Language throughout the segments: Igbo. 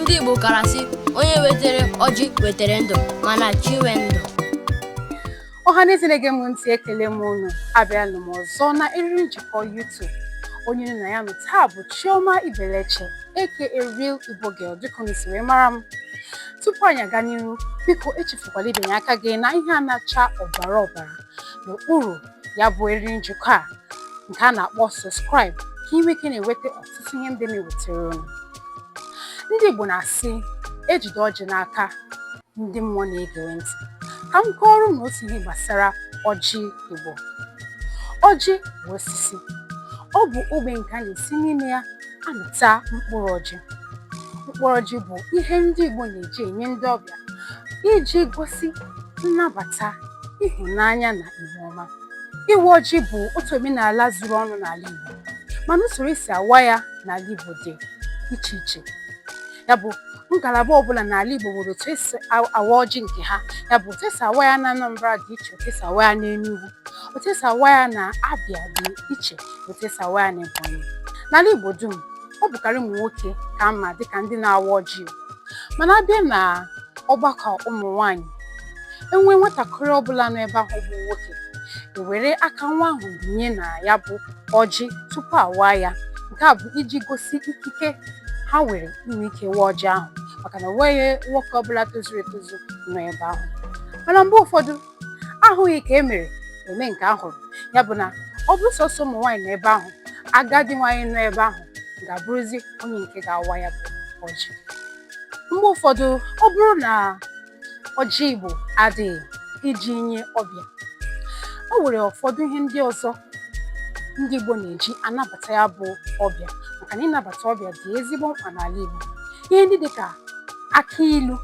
ndị Igbo kara sị onye wetere ọjị wetere ndụ mana chi nwe ndụ ọhaneze na-ege m ntị ekele m unu abịana m ọzọ na eriri njikọ YouTube onye unu na ya nọ taa bụ Chioma Ibeleche aka Real Igbo Girl dịka unu si wee mara m tupu anyị aga n'ihu biko echefukwala ibinye aka gị na ihe a na-acha ọbara ọbara n'okpuru ya bụ eriri njikọ a nke a na-akpọ subscribe ka ị nwee ike na-enweta ọtụtụ ihe ndị m na-ewetara unu ndị Igbo na-asị ejide ọjị n'aka ndị mmụọ na-egere ntị ka m kọọrọ unu otu ihe gbasara ọjị Igbo ọjị bụ osisi ọ bụ ogbe nke a na-esi n'ime ya amịta mkpụrụ ọjị mkpụrụ ọjị bụ ihe ndị Igbo na-eji enye ndị ọbịa iji gosi nnabata ịhụnanya na ihu ọma ịwa ọjị bụ otu omenala zuru ọnụ n'ala Igbo mana usoro esi awa ya n'ala Igbo dị iche iche ya bụ ngalaba ọbụla n'ala Igbo nwere otu esi awa ọjị nke ha ya bụ otu esi awa ya na Anambra dị iche otu esi awa ya n'Enugu otu esi awa ya na Abia dị iche otu esi awa ya na ebonyi n'ala igbo dum ọ bụkarị ụmụ nwoke ka a ma dịka ndị na-awa ọjị mana abịa na ọgbakọ ụmụ nwanyị enwe nwatakịrị ọbụla nọ ebe ahụ bụ nwoke ewere aka nwa ahụ binye na ya bụ ọjị tupu awa ya nke a bụ iji gosi ikike ha nwere inwe ike wa ọjị ahụ maka na onweghị nwoke ọbụla tozuru etozu nọ ebe ahụ mana mgbe ụfọdụ ahụghị ka e mere eme nke ahụrụ ya bụ na ọ bụrụ sọsọ ụmụ nwaanyị nọ ebe ahụ agadi nwaanyị nọ ebe ahụ ga-abụrụzi onye nke ga-awa ya bụ ọjị mgbe ụfọdụ ọ bụrụ na ọjị igbo adịghị iji nye ọbịa o nwere ụfọdụ ihe ndị ọzọ ndị igbo na-eji anabata ya bụ ọbịa maka na ịnabata ọbịa dị ezigbo mkpa n'ala igbo ihe ndị dịka akị ilu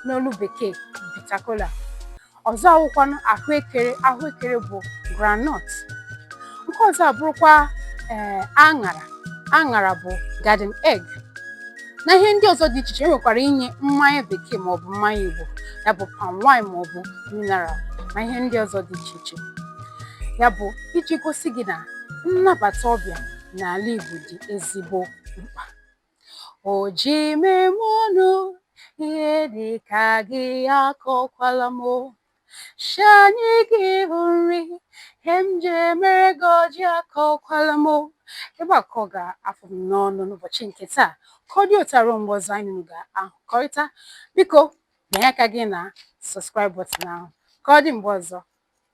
n'olu bekee bitter kola ọzọ awụkwanụ ahụekere ahụekere bụ groundnut nke ọzọ abụrụkwa ee aṅara aṅara bụ garden egg na ihe ndị ọzọ dị iche iche enwekwara inye mmanya bekee maọbụ mmanya igbo ya bụ palm wine maọbụ mineral na ihe ndị ọzọ dị iche iche ya bụ iji gosi gị na nnabata ọbịa n'ala igbo dị ezigbo mkpa O ji m eme ọnụ ihe dị ka gị akọkwala m o. Si anyị gị hụ nri ihe m ji emere gị ọjị akọkwala m o. Ebe a ka ọ ga-afụ m n'ọnụ n'ụbọchị nke taa ka ọ dị otu a ruo mgbe ọzọ anyị na unu ga-ahụkọrịta biko bịanye aka gị na subscribe button ahụ ka ọ dị mgbe ọzọ